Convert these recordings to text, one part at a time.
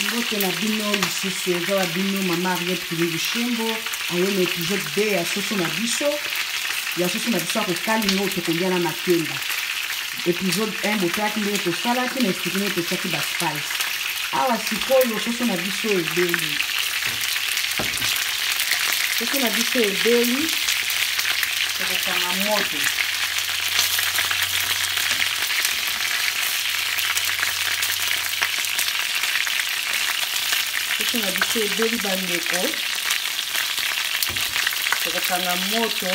mbote na bino lisusu eza na bino mama ariete kilingi shembo aye na episode 2 ya soso na biso ya soso na biso akokali ngo tokolia na makemba episode 1 botalaki ndenge tosalaki na esplike ndenge totiaki baspice awa sikoyo soso na biso ebeli soso na biso ebeli tokokanga moto soki na biso ebeli bandeko tokokanga moto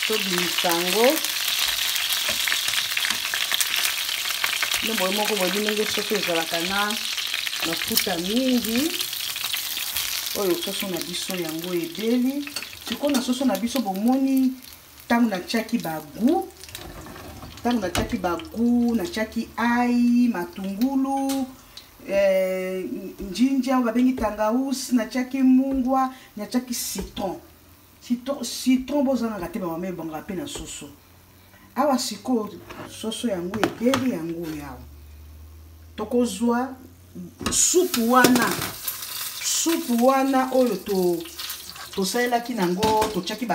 tobimisa yango no boye moko boyebi ndenge soso ezalaka na mafuta mingi oyo soso na biso yango ebeli sikoyo na soso na biso bomoni ntango natyaki bagu ntango natyaki bagu natyaki ai matungulu eh, njinja oyo babengi tangaus natyaki mungwa natyaki citron citron, citron bozangaka te bamama ebongaka mpe na soso awa sikoyo soso yango ebeli yango oyo awa tokozwa supu wana supu wana oyo to tosalelaki nango totyaki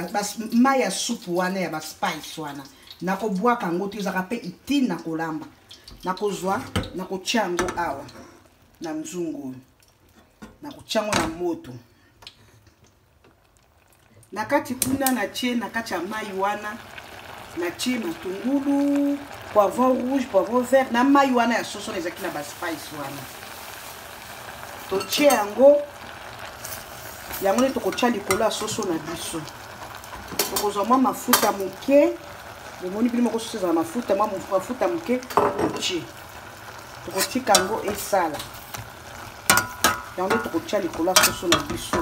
mai ya supu wana ya baspice wana nakobwaka yango te ezalaka mpe itine na kolamba nakozwa nakotya yango awa na nzungu oyo nakotya yango na moto na kati kuna natie na kati ya mai wana natie matungulu poivron rouge poivron vert na mai wana ya soso na ezalaki na baspice wana totie yango yango nde tokotya likolo ya soso na biso tokozwa mwa mafuta moke bomoni bino moko soso ezala mafuta mwa mafuta moke totie tokotika yango esala yango nde tokotya likolo ya soso na biso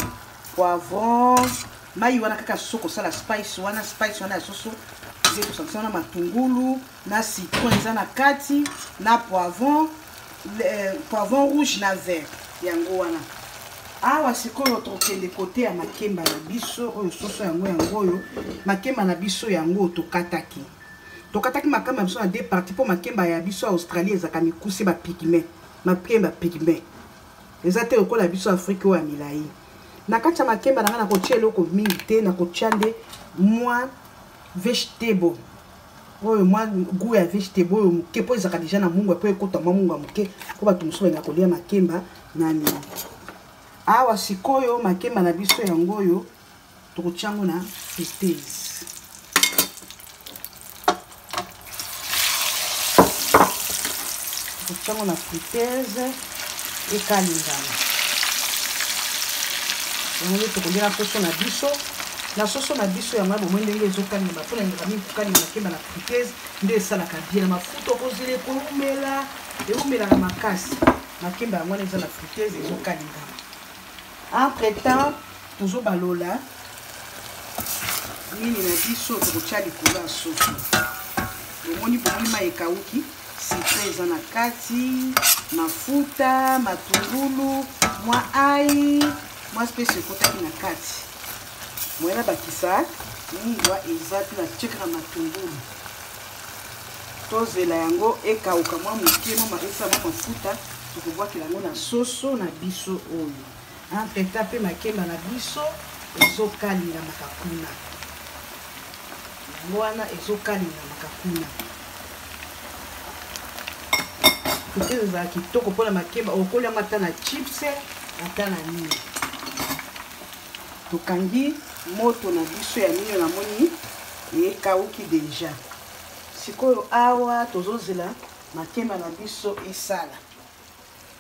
poivron mai wana kaka soso kosala spice wana spice wana ya soso eza ekosangisa na matungulu na citron eza na kati na poivron eh, poivron rouge na vert yango wana awa sikoyo tokende kote ya makemba na biso oyo soso yango yango oyo makemba na biso yango tokataki tokataki makemba na biso na deux parti mpo makemba ya biso ya australie ezalaka mikuse bapigme makemba pigme eza te lokola biso afrike oyo ya milai na kati ya makemba na ngai nakotya eloko mingi te nakotya nde mwa vegetable oyo mwa gout ya vegetable oyo moke mpo ezalaka deja na mungwa mpo ekota mwa mungwa moke mpo bato mosusu balinga kolia makemba na nini awa sikoyo makemba na biso yango oyo tokotia yango na friteuse tokotia yango na friteuse ekalingana yango nde tokolia poso na biso na soso na biso yango ya bomoi ndenge ezokalinga bapona eleka mingi kokalinga makemba na friteuse nde esalaka bie na mafuta okozela ekoumela eumelaka makasi makemba yango wana eza na friteuse ezokalingama Entre temps, tozo balola nini na biso tokotya likolo ya soso bomoni bomoni mai ekauki sitro eza na kati mafuta matungulu mwa ai mwa spesi ekotaki na kati moyena bakisa mungwa eza te na tiekaka matungulu tozela yango ekauka mwa moke mwa maesa mwa mafuta tokobwakela yango na soso na biso oyo ampeta mpe makemba na biso ezokalinga makakuna yango wana ezokalinga makakuna kote ezala kitoko mpona makemba okolyama ata na chips ata na nini tokangi moto na biso ya mino namoni ekauki deja sikoyo awa tozozela makemba na biso esala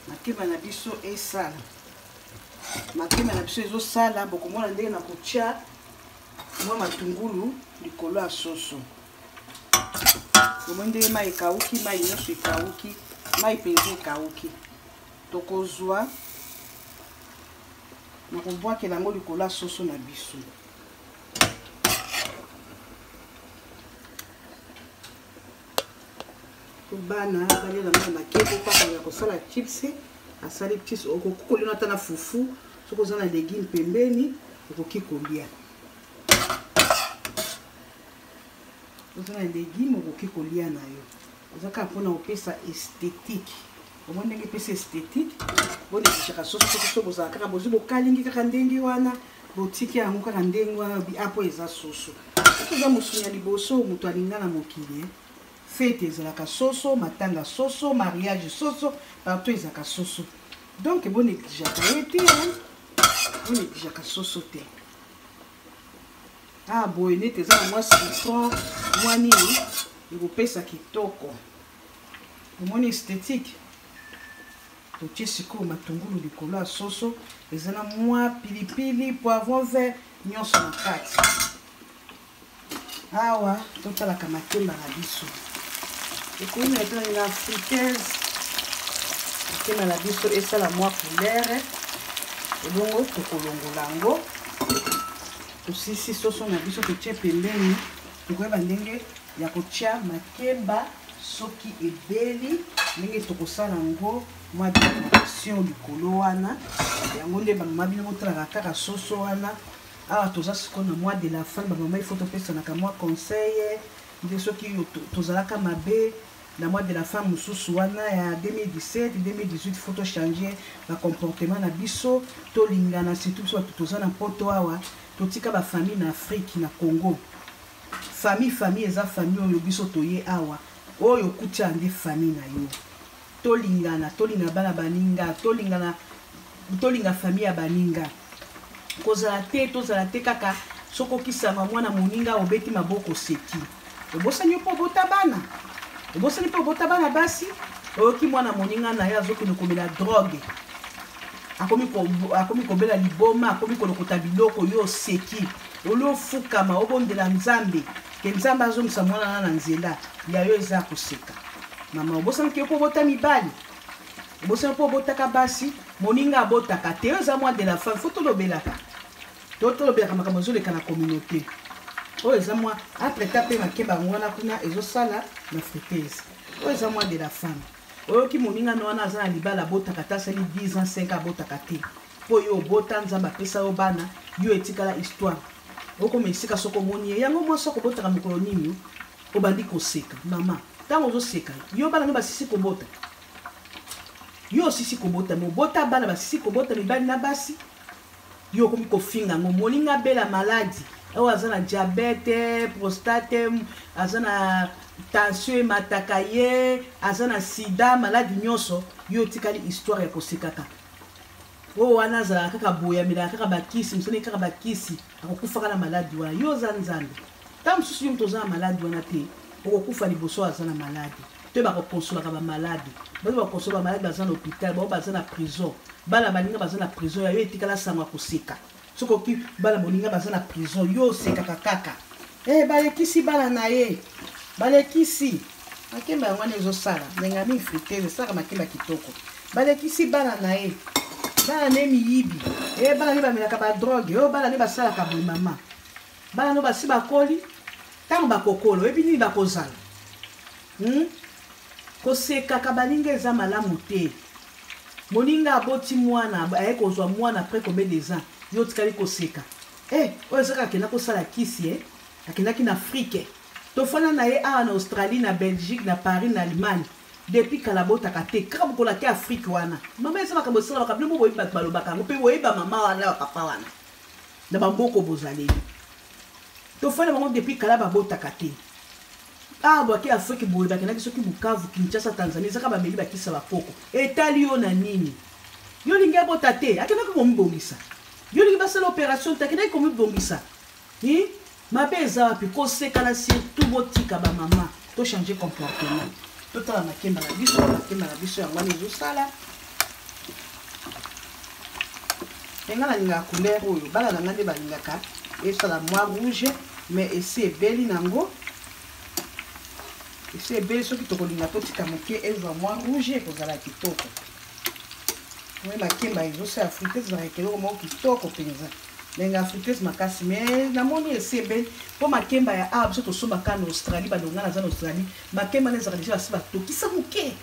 makemba na biso esala makemba na biso ezosala bokomona ndenge na kotya mwa matungulu likolo ya soso omoni ndenge mai ekauki mai nyonso ekauki mai mpenza ekauki tokozwa na kobwakela yango likolo ya soso na biso bana balela mwana makeko kaka ya kosala chips asali chips okoki kolina ata na fufu soki oza na legume pembeni okoki kolia oza na legume okoki kolia na yo oza kaka mpona kopesa esthétique omoni ndenge epesi esthetique bolekisaka soso soki so bozala kaka bozwi bokalingi kaka ndenge wana botiki yango kaka ndenge wana apo eza soso soki oza mosuni ya liboso moto alinga na mokili fete ezalaka soso matanga soso mariage soso partout ezalaka soso donc boneglijaka ye te boneglijaka soso te ah boye nete eza na mwa citron mwa nini ekopesa kitoko omoni esthétique totie sikoyo matungulu likolo ya soso eza na mwa pilipili poivron vert nyonso na kati awa totalaka makemba na biso ekomi na tani na africaise makemba na biso esala mwa coulere ebongo tokolongola yango tosisi soso na biso totie pembeni tokoyeba ndenge ya kotya makemba soki ebeli ndenge tokosala yango mwa decoration likolo wana yango nde bamama bino botalaka kaka soso wana awa toza sikoyo na mois de la fin bamama ifo topesanaka mwa conseil nde soki tozalaka mabe na mois de la fin mosusu wana ya 2017 2018 fo tochange bacomportement na biso tolingana surtout biso bato toza na mpoto awa totika bafamille na afrique na congo Famille famille eza famille oyo biso toye awa oyo okuti awa nde famille na yo tolingana tolinga bana baninga tolingana tolinga famille ya baninga kozala te tozala te kaka soki okisama mwana moninga obeti maboko oseki obosani yo mpo obota bana obosani mpo obota bana basi oyoki mwana moninga na ye azokende komela drogue akomi kobela liboma akomi kolokota biloko yo oseki Olio ofukama obondela Nzambe ke Nzambe azongisa mwana na na nzela ya yo eza koseka. Mama obosani ke mpo obota mibali obosani mpo obotaka basi moninga abotaka te oyo eza mwa de la femme fo tolobelaka to tolobelaka makambo ezoleka na communauté oyo eza mwa apreta mpe makeba yango wana kuna ezosala na fritese oyo eza mwa de la femme oyoki moninga na wana aza na libala abotaka te asali 10 ans 5 abotaka te mpo yo obota nzambe apesa yo bana yo etikala histoire okoma esika soko omoni ye yango mwasi akobotaka mokolo nini obandi koseka mama ntango ozoseka yo bana no basisi kobota yo osisi kobota mobota bana basisi kobota mibali na basi yo okomi kofinga yango moninga abela maladi oyo aza na diabete prostate aza na tension emataka ye aza na sida maladi nyonso yo otikali histoire ya kosekaka oyo wana azalaka kaka boye amelaka kaka bakisi mosani kaka bakisi akokufaka na maladi wana yo oza nzambe ntango mosusu yo moto oza na maladi wana te okokufa liboso aza na maladi to bakokonsolaka bamaladi bato bakonsola bamaladi baza na hôpital bao baza na prison bana baninga baza na prison ya yo etikala sango ya koseka soki oki bana bolinga baza na prison yo osekaka kaka e balekisi bana na ye balekisi makemba yango wana ezosala ndenge ya mifrite esalaka makemba kitoko balekisi bana na ye bana ne miyibi e bana ne bamelaka badroge oyo bana ne basalaka boye mama bana no basi bakoli ntango bakokolo oyebi nini bakozala hmm? kosekaka baninga eza malamu te moninga aboti mwana aye kozwa mwana après combien des ans yo otikali koseka e oyo ezaka akenda kosala kisi e akendaki na afrike tofanda na ye awa na australie na belgique na paris na allemagne depuis kala botaka te kaka bokola te afrike wana mama eza makambo esala bakabino bo boyebi bato balobaka yango mpe boyebi bamama wana na bapapa wana na bamboko bozaleli tofanda bango depuis kala babotaka te awa bwaki afrike boye bakendaki soki bukavu kinshasa tanzanie ezaka bameli bakisa bakoko etali yo na nini yo olingi abota te akendaki komibongisa yo olingi basala opération te akendaki komibongisa hi mabe eza wapi kosekana surtout botika bamama tochange comportement totala makemba na biso makemba na biso yango wana ezosala me nga nalingaka couleur oyo bana na nga nde balingaka esala mwa rouge me esi ebeli nango esi ebeli soki tokolinga totika moke ezwa mwa rouge ekozala kitoko me makemba ezosa ya frites ezalaka ekeloko moko kitoko mpenza ndenge ya frites makasi me namoni esi ebeli mpo makemba ya awa biso tosombaka na australie balonga naza na australie makemba na ezalaka deja basi batokisa moke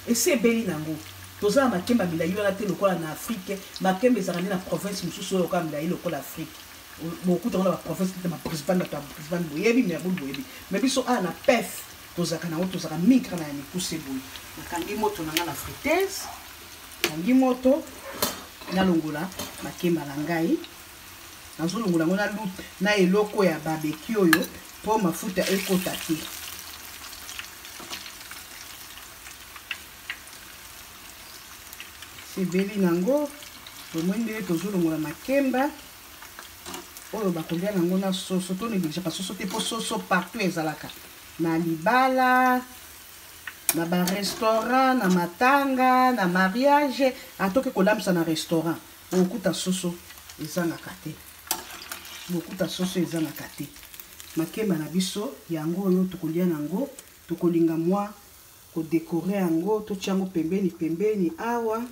Esi ebeli na ngo. Toza na makemba milayi wana te lokola na Afrique. Makemba ezalaka nde na province mosusu oyo kaka milayi lokola Afrique. Bokuta yango na ba province neti ba Brisbane, bato ya Brisbane boyebi, Melbourne boyebi. Mais biso awa na Perth tozalaka na yango, tozalaka mingi kaka na ya mikuse boye. Nakangi moto na nga na friteuse, nakangi moto, nalongola makemba na ngai. nazo longola yango na loupe na eloko ya barbecue oyo po mafuta ekota te ebeli nango omoni ndenge tozo longola makemba oyo bakolia nango na soso to negligaka soso te po soso partout ezalaka na libala na barestaurant na matanga na mariage atoki kolambisa na restaurant bokuta soso ezangaka te bokuta soso ezangaka te makemba na biso yango oyo tokolia na yango tokolinga mwa kodekore yango totya yango pembeni pembeni awa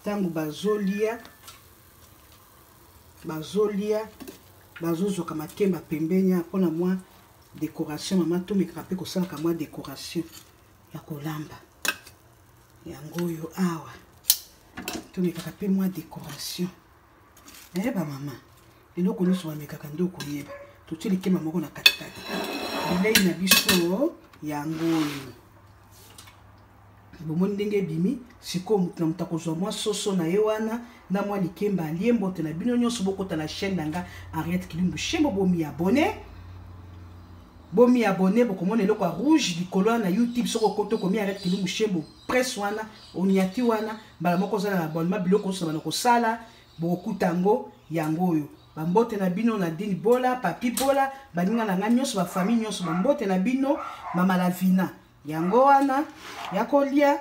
ntango bazolia bazolia bazozoka makemba pembeni mpo na mwa decoration mama tomekaka mpe kosalaka mwa decoration ya kolamba yango oyo awa tomekaka mpe mwa décoration naye bamama eloko nyonso bamekaka nde okoyeba totie likema moko na katikati bilei na biso yango oyo bomoni ndenge ebimi sikoyo moto na moto akozwa mwa soso na ye wana na mwa likemba alie mbote na bino nyonso bokota na chaîne na nga ariette kilimbu shembo bomi abone Bomi abonne bokomona eloko ya rouge likolo wana na YouTube soko okoto komi arrête kilumu shembo presse wana oniati wana mbala moko ozala na abonnement biloko oso bana kosala bokokuta yango yango oyo bambote na bino na dini bola papi bola baninga na ngai nyonso bafamille nyonso bambote na bino mama lavina yango wana ya kolia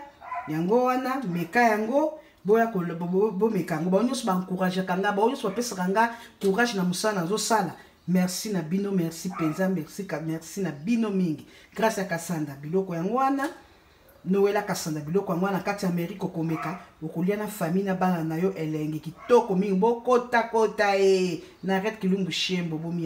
yango wana meka yango boya bomeka yango bango nyonso baencouragaka nga bango nyonso bapesaka nga courage na mosala nazosala merci na bino merci mpenza merci ka merci na bino mingi grâce ya kasanda biloko yango wana nowela kasanda biloko yango wana kati ya amerike okomeka okolia na famille na bana na yo elengi kitoko mingi bokotakota e na ret kilumbu shembo bomi